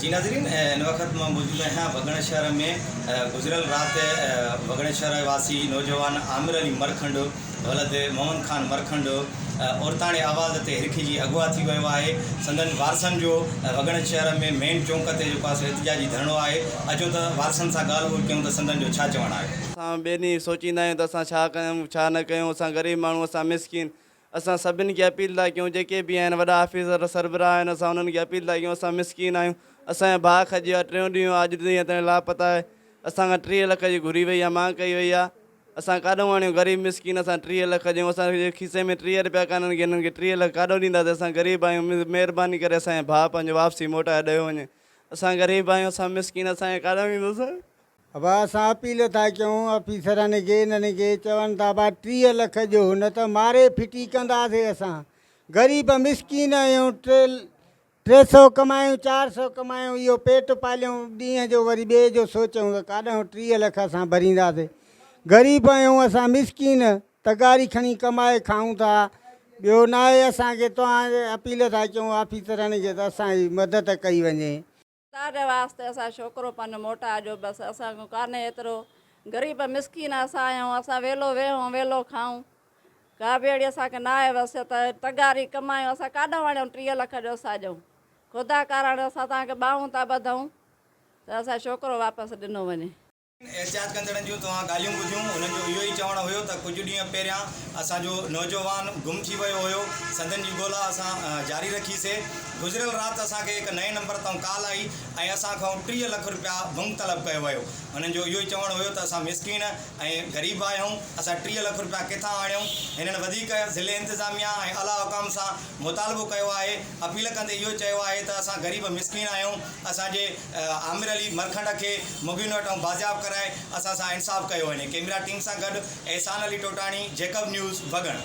جي ناظرين هن وقت مان موجود آهيان وڳڻ شهر ۾ گذريل رات وڳڻ شهر واسي نوجوان عامر علي مرکنڊ ولد مومن خان مرکنڊ عورتاڻي آواز تي هرکجي اغوا ٿي ويو آهي سندن وارثن جو وڳڻ شهر ۾ مين چونڪ تي جيڪو آهي احتجاجي ڌرڻو آهي اچو ته وارثن سان ڳالهه ٻولهه ڪيون ته سندن جو ڇا چوڻ آهي. اسان ٻينهي سوچيندا آهيون ته اسان ڇا ڪيون ڇا نه ڪيون اسان غريب ماڻهو اسان مسڪين اسان سڀن کي اپيل ٿا ڪيون جيڪي به آهن وڏا آفيسر سربراهه آهن اسان انهن کي اپيل ٿا ڪيون اسان مسڪين آهيون اسان جو ڀاء کڄي ويو آهي ٽيون ڏينهن آج دنيا تائين لاپتا آهي اسان کان ٽيهه لک جي گهري وئي آهي مانگ ڪئي وئي آهي اسان ڪاڏون آڻيون غريب مسڪين اسان ٽيهه لک ڏيون اسان جي کيسي ۾ ٽيهه رپيا ڪانه آهن هنن کي ٽيهه لک ڪاڏو ڏينداسين اسان غريب آهيون مهرباني ڪري اسان جو ڀاء پنهنجو واپسي موٽائي ڏيو وڃي اسان غريب آهيون اسان مسڪين اسان کي ڪاڏون ڏيندو سان. اھا اسان اپيل ٿا ڪيون آفيسرن کي انھن کي چون ٿا ڀا ٽيهه لک ڏيو نه ته ماري ڦٽي ڪنداسي اسان غريب مسڪين آھيون ٽي ٽي سئو ڪمايون چار سئو ڪمايون اھو پيٽ پاليون ڏينهن جو وري ٻئي جو سوچون ته ڪاڏانھون ٽيهه لک اسان ڀرينداسي غريب آھيون اسان مسڪين تغاري کڻي ڪمائي کائون ٿا ٻيو ناھي اسان کي توھان اپيل ٿا ڪيون آفيسرن کي ته اسان جي مدد ڪئي وڃي. تانجي واسطي اسان شوڪرو پن موٽا جو بس اسان ڪن ڪانهي ايترو غريب مسڪين اسان آهيون اسان ويلو ويهون ويلو کائون ڪا به اهڙي اسان کي ناهي وصيت تغاري ڪمايون اسان ڪاڏانهن وڻيون ٽيهه لک جو اسان ڏيون خدا ڪارڻ اسان تانکي ٻانهون ٿا ٻڌون ته اسان شوڪرو واپس ڏنو وڃي. احتجاج ڪندڙن جون توهان ڳالهيون ٻڌيون، انهن جو اهو ئي چوڻ هيو ته ڪجهه ڏينهن پهريان اسان جو نوجوان گم ٿي ويو هيو، سندن جي ڳولا اسان جاري رکي سي، گذريل رات اسان کي هڪ نئين نمبر تائون ڪال آئي ۽ اسان کائون ٽيهه لک رپيا ڀنگ طلب ڪيو ويو، انهن جو اهو ئي چوڻ هيو ته اسان مسڪين ۽ غريب آهيون، اسان ٽيهه لک رپيا ڪٿان آڻيون، هنن وڌيڪ ضلعي انتظاميه ۽ اعليٰ حڪام سان مطالبو ڪيو آهي، اپيل ڪندي اهو چيو آهي ته اسان غريب مسڪين آهيون، اسان جي. عامر علي مرکنڊ کي مبين وٽ ائون بازياب ڪرائي اسان سان انصاف ڪيو وڃي ڪيمرا ٽيم سان گڏ احسان علي ٽوٽاڻي جيڪب نيوز بگهڻ.